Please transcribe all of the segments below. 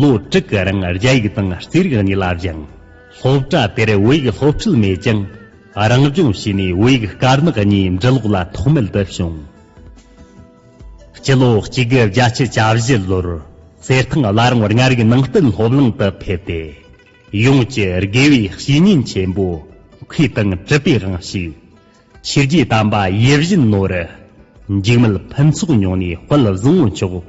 ལོ་དྲུག་གི་རིང་རྒྱ་ཡིག་དང་རྩིས་རིག་གཉིས་ལ་བཞེངས། སློབ་གྲྭ་དེར་བོད་ཡིག་སློབ་ཁྲིད་མེད་ཀྱང། རང་སྦྱོང་བྱས་ནས་བོད་ཡིག་དཀར་ནག་གཉིས་འབྲི་ཀློག་ལ་ཐོགས་མེད་དུ་བྱུང། སྤྱི་ལོ་གཅིག་དགུ་བརྒྱ་ཆུ་བྱ་བཞི་ལོར་རྩེ་ཐང་བླ་རུང་རྔ་རིག་ནང་བསྟན་སློབ་གླིང་དུ་ཕེབས་ཏེ། ཡོངས་ཀྱི་དགེ་བའི་བཤེས་གཉེན་ཆེན་པོ། གུས་དང་དྲི་པའི་དབང་ཞུས། ཕྱི་རྒྱས་བསྟན་པ་ཡིད་བཞིན་ནོར། འཇིགས་མེད་ཕུན་ཚོགས་མྱོང་ནས་དཔལ་བཟང་བོ་མཆོག།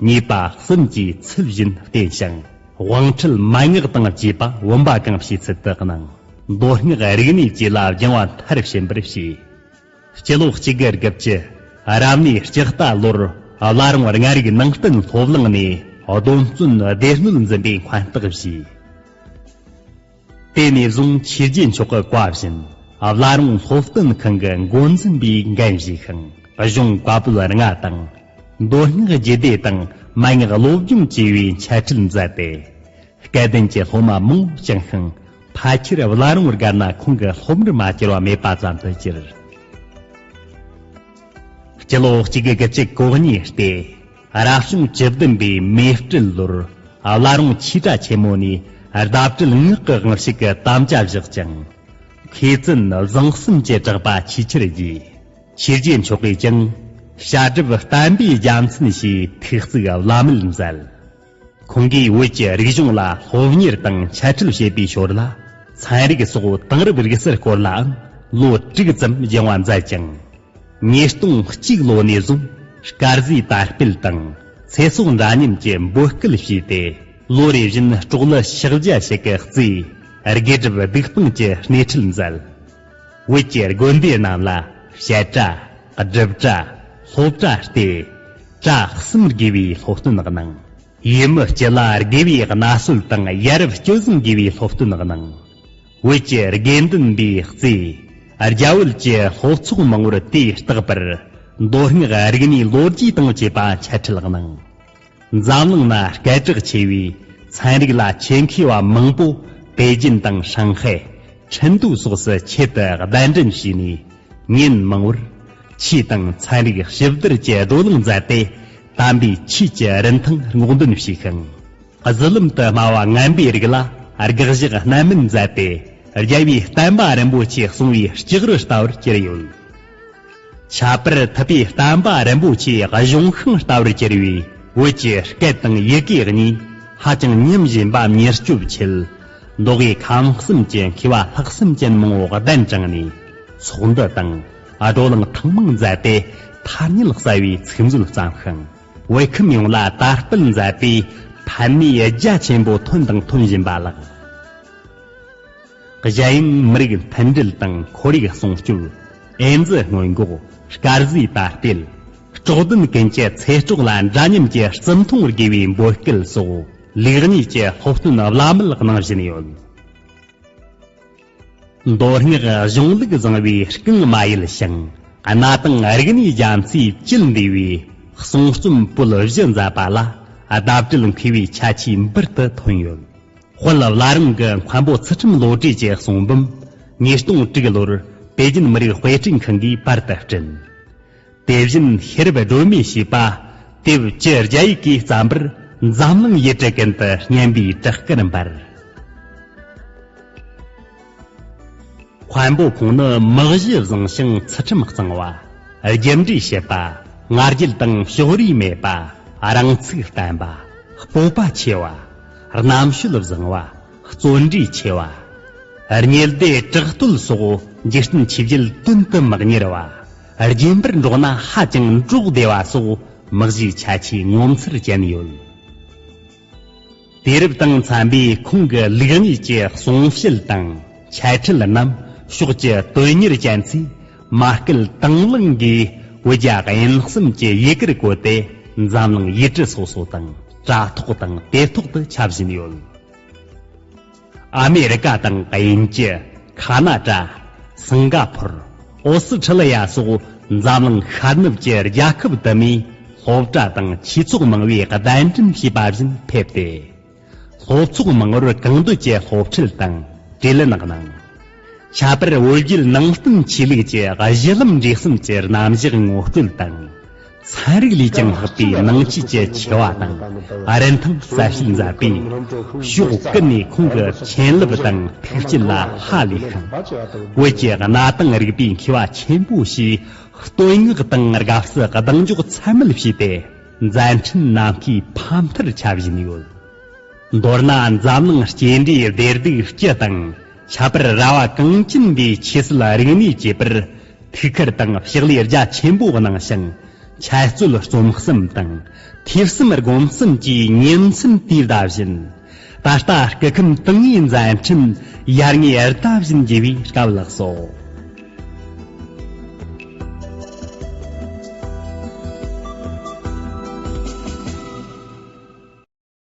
ཉེས་པ་གསུམ་གྱི་ཚུལ་བཞིན་བསྟེན་ཞིང་དབང་ཁྲིད་མན་ངག་དང་བཅས་པ་བུམ་པ་གང་བྱེད་ཚུལ་དུ་གནང། མདོ་སྔགས་རིག་གནས་བཅས་ལ་སྦྱང་བ་མཐར་ཕྱིན་པར་བྱས། སྤྱི་ལོ་གཅིག་དགུ་དགུ་བཅུ་རབ་གནས་སྐྱག་རྟ་ལོར་བླ་རུང་ལྔ་རིག་ནང་བསྟན་སློབ་གླིང་ནས་རྡོ་བཙུན་བདེ་སྣོད་འཛིན་པའི་མཁོན་རྟགས་བཞེས། དེ་ནས་བཟུང་ཕྱི་རྒྱལ་མཆོག་གི་བཀའ་བཞིན་བླ་རུང་སློབ་སྟོན་ཁང་གི་འགོ་འཛིན་པའི་འགན་བཞེས་ཤིང་གཞུང་བཀའ་པོད་ལྔ་དང། མདོ་སྔགས་རྒྱུད་སྡེ་དང་མན་ངག་སློབ་སྦྱོང་བཅས་པའི་འཆད་ཁྲིད་མཛད་དེ། སྐལ་ལྡན་གྱི་སློབ་མ་མང་བོ་བསྐྱངས་ཤིང་ཕལ་ཆེར་བླ་རུང་བར་བསྒར་ན་ཁོང་གི་སློབ་འབྲིང་མ་བསྐྱུར་བ་མེད་པ་ཙམ་དུ་གྱུར། སྤྱི་ལོ་གཅིག་དགུ་གཅིག་གོ་གཉིས་སྟེ། རབ་བྱུང་བཅུ་བདུན་པའི་མེ་སྤྲེལ་ལོར་བླ་རུང་ཆོས་གྲྭ་ཆེན་མོ་ནས་ཟླ་བསྒྲིལ་སྔགས་ཀྱི་དབང་ཕྱུག་གི་དམ་བཅའ་བཞག་ཅིང། མཁས་བཙུན་བཟང་གསུམ་གྱི་གྲགས་པ་ཆེས་ཆེར་རྒྱས། ཕྱི་རྒྱལ་མཆོག་གིས་ཀྱང། བྱ་སྒྲུབ་བསྟན་པའི་རྒྱལ་མཚན་ཞེས་ཐུགས་གཙིགས་བླ་མེད་མཛད། ཁོང་གིས་བོད་ཀྱི་རིག་གཞུང་ལ་སློབ་གཉེར་དང་འཆད་ཁྲིད་བྱེད་པའི་ཞོར་ལ་ཚན་རིག་སོགས་དེང་རབས་རིག་རྩལ་སྐོར་ལའང་བློ་དཀྲུགས་ཙམ་སྦྱངས་བ་མཛད་ཅིང། ཉིས་སྟོང་གཅིག་ལོ་ནས་བཟུང་དཀར་གཟིགས་དར་སྤེལ་དང་ཚེ་སྲོག་འདྲ་མཉམ་གྱི་འབོད་སྐུལ་བྱས་ཏེ་ལོ་རེ་བཞིན་སྤྲོ་ལ་ཕྱག་རྒྱ་ཞིག་གི་རྩིས་དགེ་སྒྲུབ་སྡིག་སྤངས་ཀྱི་སྣེ་ཁྲིད་མཛད། བོད་ཀྱི་དགོན་སྡེ་རྣམས་ལ་བཤད་གྲྭ། སྒྲུབ་གྲྭ། སློབ་གྲྭ་སྟེ་གྲྭ་གསུམ་དགེ་བའི་སློབ་སྟོན་གནང། ཡུལ་མི་སྤྱི་ལ་དགེ་བའི་གནའ་སྲོལ་དང་ཡ་རབས་སྤྱོད་བཟང་དགེ་བའི་སློབ་སྟོན་གནང། བོད་ཀྱི་དགེ་འདུན་པའི་རྩེ། རྒྱ་བོད་ཀྱི་སློབ་ཚོགས་མང་བོར་དེ་རྟག་པར། མདོ་སྔགས་རིག་གནས་ལོ་རྒྱུས་དང་བཅས་པ་འཆད་ཁྲིད་གནང། འཛམ་གླིང་ན་སྐད་གྲགས་ཆེ་བའི་ཚན་རིག་ལ་ཆེད་མཁས་བ་མང་པོ་པེ་ཅིན་དང་ཧྲང་ཧའེ། ཁྲིན་ཏུའུ་སོགས་སུ་ཆེད་དུ་གདན་འདྲེན་བྱས་ནས། ཉིན་མང་བོར། ཆོས་དང་ཚན་རིག་ཞིབ་བསྡུར་གྱི་བགྲོ་གླེང་མཛད་དེ། དམ་པའི་ཆོས་ཀྱི་རིན་ཐང་སྔོག་འདོན་བྱས་ཤིང། གཟི་ལམ་དུ་སྨྲ་བ་ངན་པའི་རིགས་ལ་དགག་གཞག་རྣལ་མིན་མཛད་དེ་རྒྱལ་བའི་བསྟན་པ་རིན་པོ་ཆེ་སྲུང་བའི་ལྕགས་རི་ལྟ་བུར་གྱུར་ཡོད། ཁྱབ་པར་ཐུབ་པའི་བསྟན་པ་རིན་པོ་ཆེ་གཞུང་ཤིང་ལྟ་བུར་གྱུར་བའི་བོད་ཀྱི་སྐད་དང་ཡི་གེ་གཉིས་ཧ་ཅང་ཉམས་བཞིན་པ་ཉེར་སྤྱོད་ཆེད། མདོ་དབུས་ཁམས་གསུམ་གྱི་མཁས་པ་ལྷག་བསམ་ཅན་མང་བོ་གདན་དྲངས་ནས་ཚོགས་འདུ་དང། བགྲོ་གླེང་ཐེངས་མང་མཛད་དེ་ཐ་སྙད་གསར་བའི་ཚིག་མཛོད་བརྩམས་ཤིང། བོད་ཁམས་ཡོངས་ལ་དར་སྤེལ་མཛད་པས་ཕན་ནུས་རྒྱ་ཆེན་པོ་ཐོན་དང་འཐོན་བཞིན་པ་ལགས། གཞན་ཡང་མི་རིགས་མཐུན་སྒྲིལ་དང་ཁོར་ཡུག་སྲུང་སྐྱོབ། ཨེ་ཛི་སྔོན་འགོག། དཀར་གཟུགས་དར་སྤེལ། དཀྲོག་འདོན་ཀུན་གྱི་ཚེ་སྤྲོག་ལ་འདྲ་མཉམ་གྱི་བརྩི་མཐོང་དགོས་པའི་འབོད་སྐུལ་སོགས་ལེགས་ཉེས་ཀྱི་སློབ་སྟོན་བླ་མེད་གནང་བཞིན་ཡོད། མདོ་སྔགས་གཞུང་ལུགས་བཟང་བའི་རྐང་མ་ཡུལ་ཞིང་གནའ་དང་རིག་གནས་རྒྱ་མཚོས་བསྐྱིལ་འདུས་པའི་གསུང་རྩོམ་པོད་བཞི་མཛད་པ་ལ་ལྡབ་འགྲིལ་མཁས་པའི་ཁྱད་ཆོས་འབུར་དུ་ཐོན་ཡོད། དཔལ་བླ་རུང་གི་མཁན་པོ་ཚུལ་ཁྲིམས་བློ་གྲོས་ཀྱི་གསུང་འབུམ་ཉིས་སྟོང་དྲུག་ལོར་པེ་ཅིན་མི་རིགས་དཔེ་སྐྲུན་ཁང་གིས་པར་དུ་བསྐྲུན། དེ་བཞིན་ཤེར་བའི་སྒྲོན་མེ་ཞེས་པ། དེ་བཅུ་རྒྱ་ཡི་གེའི་རྩ་འབར། འཛམ་གླིང་ཡེ་གྲི་ཀུན་ཏུ་སྙན་པའི་བྲག་དཀར་འབར། མཁན་པོ་ཁོང་ནི་དམག་གཞི་བཟང་ཞིང་ཚུལ་ཁྲིམས་གཙང་བ། རྒྱུ་འབྲས་བྱེད་པ། ང་རྒྱལ་དང་ཕྱོགས་རིས་མེད་པ། རང་ཚུགས་བརྟན་པ། སྤོབས་པ་ཆེ་བ། རྣམ་དཔྱོད་བཟང་བ། བརྩོན་འབྲས་ཆེ་བ། རྙེད་བདེ་དྲག་རྟོལ་སོགས་འཇིག་རྟེན་ཆོས་བརྒྱུད་དོན་དུ་མི་གཉེར་བ། རྒྱན་པར་འགྲོགས་ན་ཧ་ཅང་འགྲོགས་བདེ་བ་སོགས་དམག་གཞིས་ཆ་ཆེའི་ངོ་མཚར་ཅན་ཡོད། དུས་རབས་དང་འཚམ་པའི་ཁོང་གི་ལུགས་གཉིས་ཀྱི་གསུང་བཤད་དང་འཆད་ཁྲིད་རྣམས་ཕྱོགས་ཀྱི་དོན་གཉེར་ཅན་ཚོས་མ་སྐུལ་དང་བླངས་སྒོས་བོད་རྒྱ་དབྱིན་གསུམ་གྱི་ཡི་གེར་བཀོད་དེ་འཛམ་གླིང་ཡིག་འབྲི་སོ་སོ་དང་དྲ་ཐོག་དང་དེབ་ཐོག་ཏུ་ཁྱབ་བཞིན་ཡོད། ཨ་མེ་རི་ཀ་དང་དབྱིན་ཇི། ཁ་ན་ཀྲ། སིང་ག་ཕོར། ཨོ་སི་ཁྲི་ལི་ཡ་སོགས་འཛམ་གླིང་ཤར་ནུབ་ཀྱི་རྒྱལ་ཁབ་དུ་མས་སློབ་གྲྭ་དང་ཆོས་ཚོགས་མང་བའི་གདན་འདྲེན་བྱས་པ་བཞིན་ཕེབས་ཏེ། སློབ་ཚོགས་མང་བོར་གང་འདོད་ཀྱི་སློབ་ཁྲིད་དང་དྲིལ་བསྣང་གནང། ཁྱད་པར་བོད་བརྒྱུད་ནང་བསྟན་ཆོས་ལུགས་ཀྱི་གཞི་ལམ་འབྲས་གསུམ་གྱི་རྣམ་གཞག་ངོ་སྤྲོད་དང། ཚན་རིག་ལས་ཀྱང་ལྷག་པའི་སྣང་བཅུད་ཀྱི་ཆེ་བ་དང་རིན་ཐང་གསལ་བཤད་མཛད་པས་ཕྱོགས་ཀུན་ནས་ཁོང་གི་མཁྱེན་རླབས་དང་ཐུགས་བསྐྱེད་ལ་ཧ་ལས་ཤིང། བོད་ཀྱི་གནའ་དང་རིག་པའི་མཁས་པ་ཆེན་པོ་ཞིག་བསྟོད་བསྔགས་དང་དགའ་བསུ་གདེང་འཇོག་ཚད་མེད་བྱས་ཏེ་མཛད་འཕྲིན་ནམ་མཁའི་ཕམ་མཐར་ཆགས་བཞིན་ཡོད། མདོར་ན་འཛམ་གླིང་སྐྱེལ་འདྲེན་བདེ་སྡུག་སྤྱི་དང་ཁྱད་པར་ར་བ་གངས་ཅན་པའི་ཆོས་སྲིད་རིག་གནས་བཅས་པར་ཐུགས་ཁུར་དང་ཕྱག་ལས་རྒྱ་ཆེན་པོ་གནང་ཞིང་འཆད་རྩོད་རྩོམ་གསུམ་དང་ཐོས་གསུམ་སྒོམ་གསུམ་གྱི་ཉིན་མཚན་དུས་ཟླ་བཞིན་ད་ལྟ་སྐུ་ཁམས་ཏིང་ངེ་འཛིན་ཁྲིམས་ཡར་ངེས་རི་རྟ་བཞིན་རྒྱས་པའི་སྐབས་ལགས་སོ།